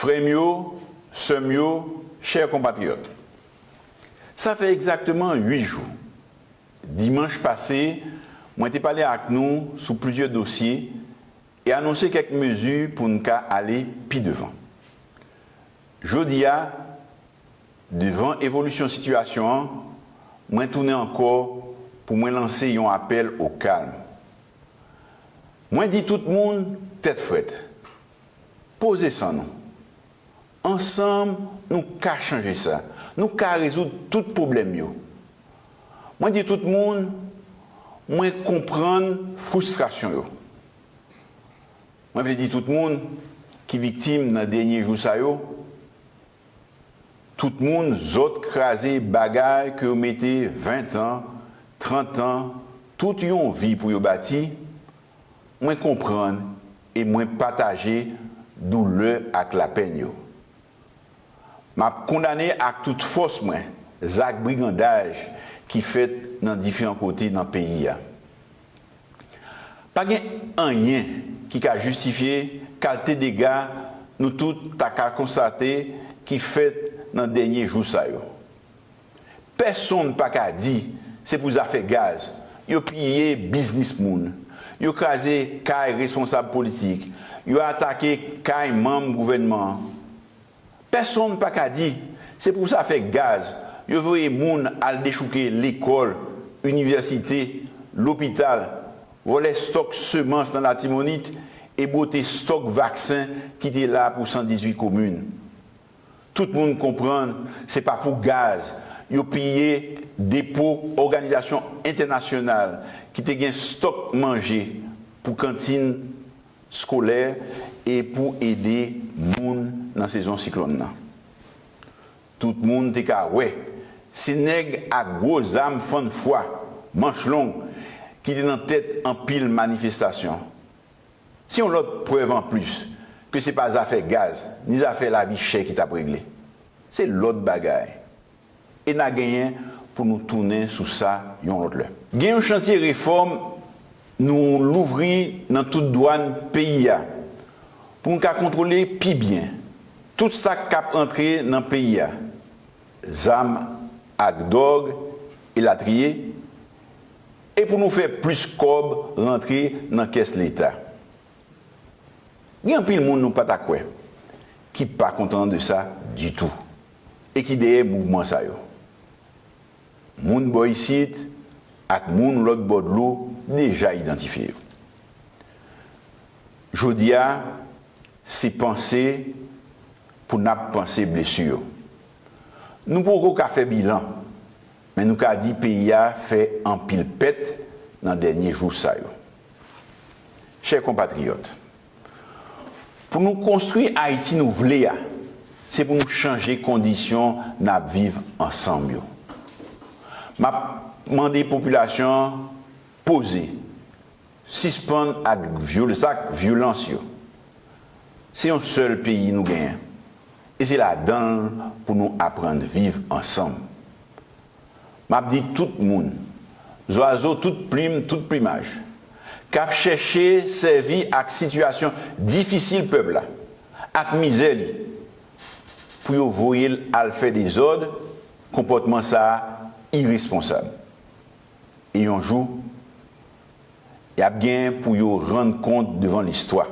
Frè m yo, sè m yo, chè konpatriyòt, sa fè egzakteman 8 jou, dimanch pase, mwen te pale ak nou sou plizyè dosye e anonse kèk mezi pou n ka ale pi devan. Jodi a, devan evolisyon sitiyasyon an, mwen tounen ankò pou mwen lanse yon apèl o kalm. Mwen di tout moun tèt frèt, poze san nou. Ansanm nou ka chanje sa, nou ka rezoud tout pwoblèm yo. Mwen di tout moun mwen konprann fristrasyon yo. Mwen vle di tout moun ki viktim nan dènye jou sa yo, tout moun zòt kraze bagay ke yo mete 20 tan, 30 tan, tout yon vi pou yo bati, mwen konprann e mwen pataje doulè ak lapenn yo. M ap kondane ak tout fòs mwen zak brigandaj ki fèt nan diferan kote nan peyi a. Pa gen anyen ki ka jistifye kalte dega nou tout ta ka konstate ki fèt nan dènye jou sa yo. Pèsonn pa ka di se pou zafè gaz yo piye biznis moun, yo kraze kay responsab politik, yo atake kay manm gouvènman an. Pèsonn pa ka di, se pou zafè gaz yo voye moun al dechouke lekòl, inivèsite, lopital, vòlè stòk semans nan Latimònit e bwote stòk vaksen ki te la pou 118 komin. Tout moun konprann se pa pou gaz yo piye depo òganizasyon entènasyonal ki te gen stòk manje pou kantin skolè e pou ede moun nan sezon siklòn nan. Tout moun te ka wè se nèg ak gwo zam fann fwa, manch long ki te nan tèt anpil manifestasyon. Se yon lòt prèv anplis ke se pa zafè gaz ni zafè lavi chè ki t ap regle. Se lòt bagay. E na genyen pou nou tounen sou sa yon lòt lè. Gen yon chantye refòm nou louvri nan tout dwàn peyi a pou nou ka kontwole pi byen tout sa k ap antre nan peyi a, zam ak dwòg elatriye, e pou nou fè plis kòb rantre nan kès leta. Gen anpil moun nou pa ta kwè ki pa kontan de sa ditou. E ki dèyè mouvman sa yo? Moun bò isit ak moun lòt bò dlo deja idantifye yo. Jodi a, se panse pou n ap panse blesu yo. Nou poko ka fè bilan, men nou ka di peyi a fè anpil pèt nan dènye jou sa yo. Chè konpatriyòt. Pou nou konstwi Ayiti nou vle a, se pou nou chanje kondisyon n ap viv ansanm yo. M ap mande popilasyon an poze, sispann ak zak vyolans yo. Se yon sèl peyi nou genyen, e se ladan l pou nou aprann viv ansanm. M ap di tout moun, zwazo tout plim, tout plimaj, k ap chèche sèvi ak sitiyasyon difisil pèp la, ak mizè li, pou yo voye l al fè dezòd, konpòtman sa a iresponsab. E yon jou, y ap gen pou yo rann kont devan listwa.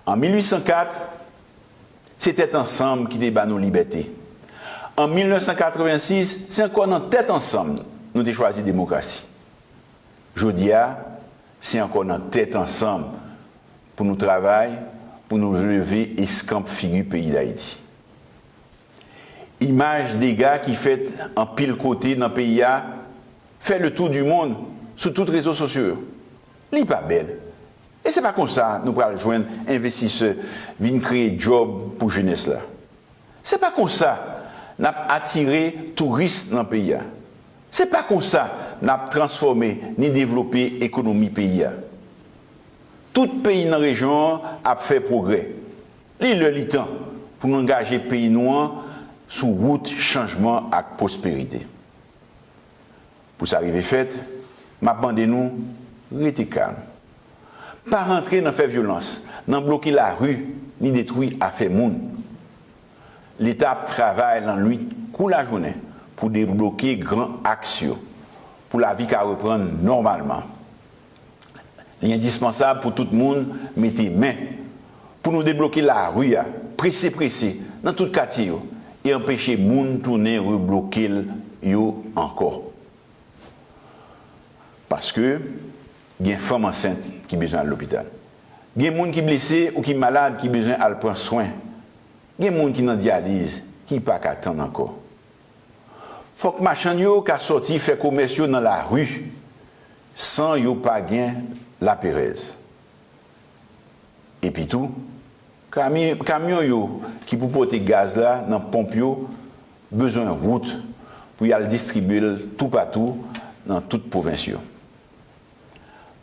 An 1804, se tèt ansanm ki te ba nou libète. An 1986, se ankò nan tèt ansanm nou te chwazi demokrasi. Jodi a, se ankò nan tèt ansanm pou nou travay pou nou leve eskanp figi peyi Dayiti. Imaj dega ki fèt anpil kote nan peyi a fè le tou di mond sou tout rezo sosyo yo. Li pa bèl. E se pa konsa nou pral jwenn envestisè vin kreye djòb pou jenès la. Se pa konsa n ap atire touris nan peyi a. Se pa konsa n ap transfòme ni devlope ekonomi peyi a. Tout peyi nan rejyon an ap fè pwogrè. Li lè li tan pou n angaje peyi nou an sou wout chanjman ak pwosperite. Pou sa rive fèt, m ap mande nou rete kalm. Pa rantre nan fè vyolans, nan bloke lari, ni detwi afè moun. Leta ap travay lannwit kou lajounen pou debloke gran aks yo, pou lavi ka reprann nòmalman. Li endispansab pou tout moun mete men pou nou debloke lari a prese prese nan tout katye yo e anpeche moun tounen rebloke l yo ankò. Paske gen fanm ansent ki bezwen al lopital. Gen moun ki blese ou ki malad ki bezwen al pran swen. Gen moun ki nan dyaliz ki pa ka tann ankò. Fòk machann yo ka sòti fè komès yo nan lari san yo pa gen laperèz. Epitou, kamyon yo ki pou pote gaz la nan ponp yo bezwen wout pou y al distribye l toupatou nan tout pwovens yo.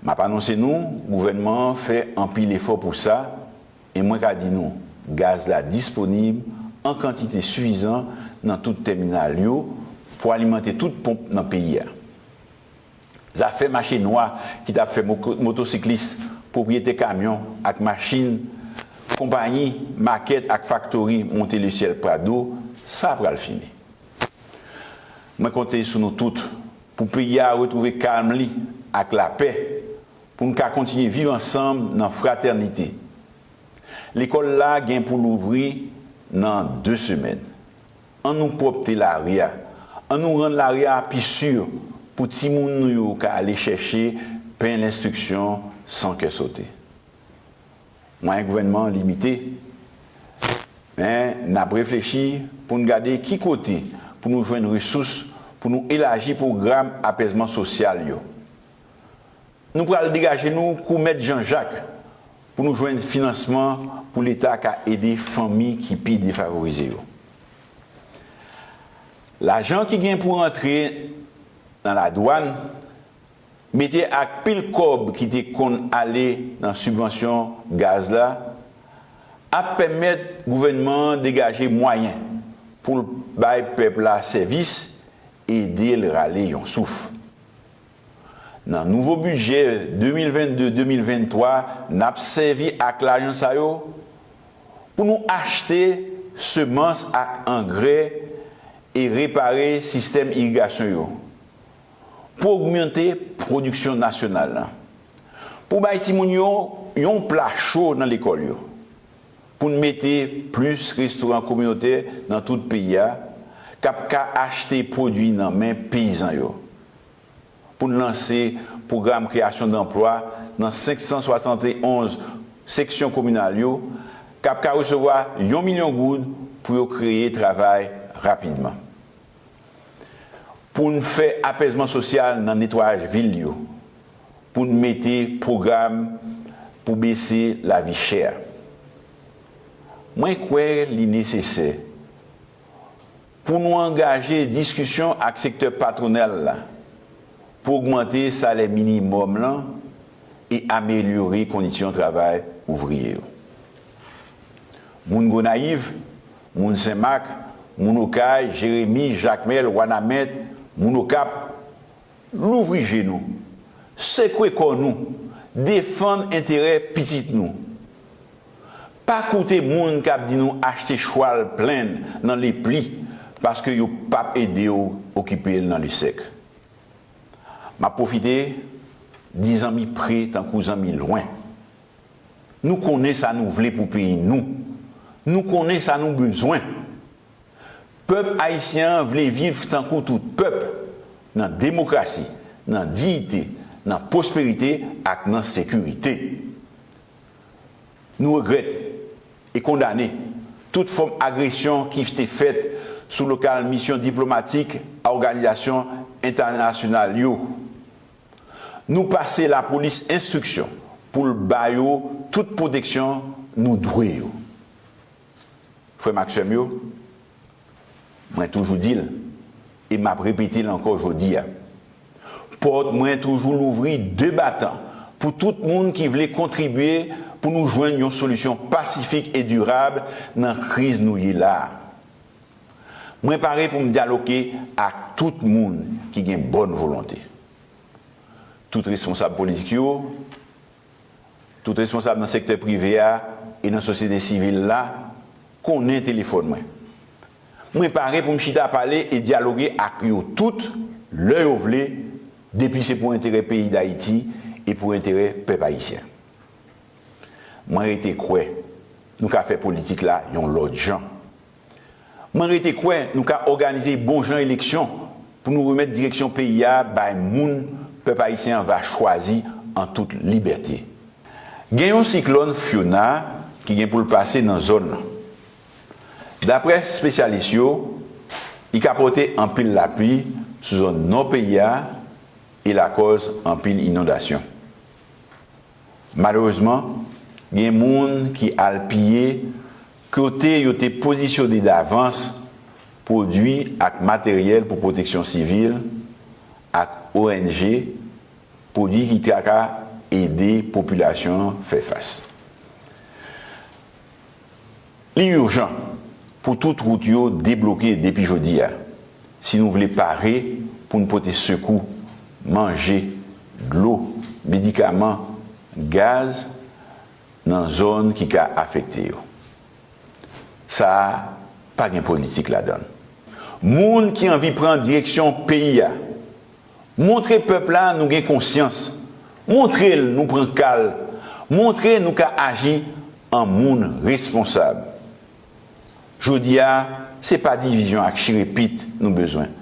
M ap anonse nou, gouvènman an fè anpil efò pou sa, e mwen ka di nou, gaz la disponib an kantite sifizan nan tout tèminal yo pou alimante tout ponp nan peyi a. Zafè mache nwa ki ta fè motosiklis, pwopriyetè kamyon ak machin, konpayi, makèt ak faktori monte lesyèl Prado, sa pral fini. Mwen konte sou nou tout. Pou peyi a retwouve kalm li ak lapè, pou n ka kontinye viv ansanm nan fratènite. Lekòl la gen pou louvri nan 2 semèn. An nou pwòpte lari a, an nou rann lari a pi si pou timoun nou yo ka ale chèche pen lenstriksyon san kè sote. Mwayen gouvènman an limite, men n ap reflechi pou n gade ki kote pou nou jwenn resous pou nou elaji pwogram apèzman sosyal yo. Nou pral degaje nou kou mèt Jan Jak pou nou jwenn finansman pou Leta ka ede fanmi ki pi defavorize yo. Lajan ki gen pou rantre nan ladwàn Mete ak pil kòb ki te konn ale nan sibvansyon gaz la ap pèmèt gouvènman an degaje mwayen pou l bay pèp la sèvis, ede l rale yon souf. Nan nouvo bidjè 2022-2023 n ap sèvi ak lajan sa yo pou nou achte semans ak angrè e repare sistèm irigasyon yo, pou ogmante pwodiksyon nasyonal la, pou bay timoun yo yon pla cho nan lekòl yo, pou n mete plis restoran kominotè nan tout peyi a k ap ka achte pwodui nan men peyizan yo, pou n lanse pwogram kreyasyon danplwa nan 571 seksyon kominal yo k ap ka resevwa yon milyon goud pou yo kreye travay rapidman. pou n fè apèzman sosyal nan netwayaj vil yo, pou n mete pwogram pou bese lavi chè a. Mwen kwè li nesesè pou nou angaje diskisyon ak sektè patwonal la pou ogmante salè minimòm lan e amelyore kondisyon travay ouvriye yo. Moun Gonayiv. Moun Sen Mak, moun Okay, Jeremi, Jakmèl, Wanament, moun Okap, louvri je nou, sekwe kò nou, defann enterè pitit nou. Pa koute moun k ap di nou achte chwal plenn nan lepli paske yo p ap ede w okipe l nan lesèk. M ap pwofite di zanmi pre tankou zanmi lwen, Nou konnen sa nou vle pou peyi nou. Nou konnen sa nou bezwen. Pèp ayisyen an vle viv tankou tout pèp, nan demokrasi, nan diyite, nan pwosperite ak nan sekirite. Nou regrèt e kondane tout fòm agresyon ki te fèt sou lokal misyon diplomatik a òganizasyon entènasyonal yo. Nou pase lapolis enstriksyon pou l ba yo tout pwoteksyon nou dwe yo. Frè m ak sè m yo, mwen toujou di l e m ap repete l ankò jodi a, pòt mwen toujou louvri de batan pou tout moun ki vle kontribye pou nou jwenn yon solisyon pasifik e dirab nan kriz nou ye la a. Mwen pare pou m dyaloke ak tout moun ki gen bòn volonte. Tout responsab politik yo, tout responsab nan sektè prive a e nan sosyete sivil la konnen telefòn mwen. Mwen pare pou m chita pale e dyaloge ak yo tout lè yo vle depi se pou enterè peyi Dayiti e pou enterè pèp ayisyen. Mwen rete kwè nou ka fè politik la yon lòt jan. Mwen rete kwè nou ka òganize bon jan eleksyon pou nou remèt direksyon peyi a bay moun pèp ayisyen an va chwazi an tout libète. Gen yon siklòn Fiona ki gen pou l pase nan zòn lan. Daprè spesyalis yo, li ka pote anpil lapli sou zòn nò peyi a e lakòz anpil inondasyon. Malerezman, gen moun ki al piye kote yo te pozisyone davans pwodui ak materyèl pou pwoteksyon sivil ak ong, pwodui ki ta ka ede popilasyon an fè fas. Li urjan pou tout wout yo debloke depi jodi a, si nou vle pare pou n pote sekou, manje, dlo, medikaman, gaz nan zòn ki ka afekte yo. Sa a pa gen politik ladan l. Moun ki anvi pran direksyon peyi a Montre pèp la nou gen konsyans. Montre l nou pran ka l. Montre nou ka aji an moun responsab. Jodi a, se pa divizyon ak chire pit nou bezwen.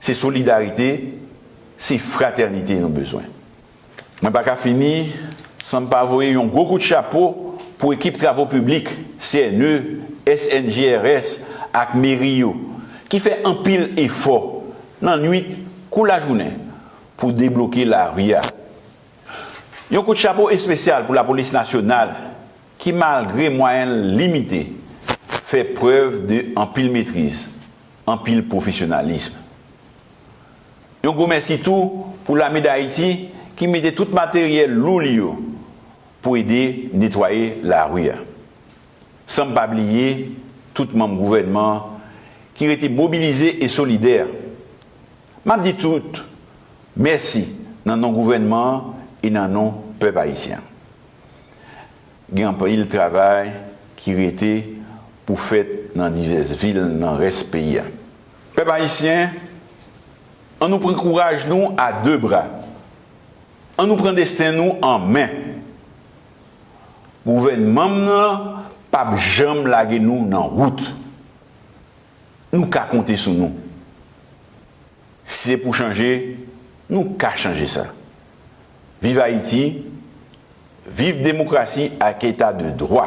Se solidarite, se fratènite nou bezwen. Mwen pa ka fini san m pa voye yon gwo kout chapo pou ekip travo piblik, CNE, SNGRS ak meri yo ki fè anpil efò nan nwit kou lajounen pou debloke lari a. Yon kout chapo espesyal pou lapolis nasyonal ki malgre mwayen l limite fè prèv de anpil metriz, anpil pwofesyonalism. Yon gwo mèsi tou pou Lame Dayiti ki mete tout materyèl lou li yo pou ede netwaye lari a. San m pa bliye tout manm gouvènman an ki rete mobilize e solidè. M ap di tout mèsi nan non gouvènman an e nan non pèp ayisyen an. Gen anpil travay ki rete pou fèt nan divès vil nan rès peyi a. Pèp Ayisyen, an nou pran kouraj nou a 2 bra. An nou pran desten nou an men. Gouvènmam nan pap janm lage nou nan wout. Nou ka konte sou nou. Si se pou chanje, nou ka chanje sa. Viv Ayiti, viv demokrasi ak eta de dwa.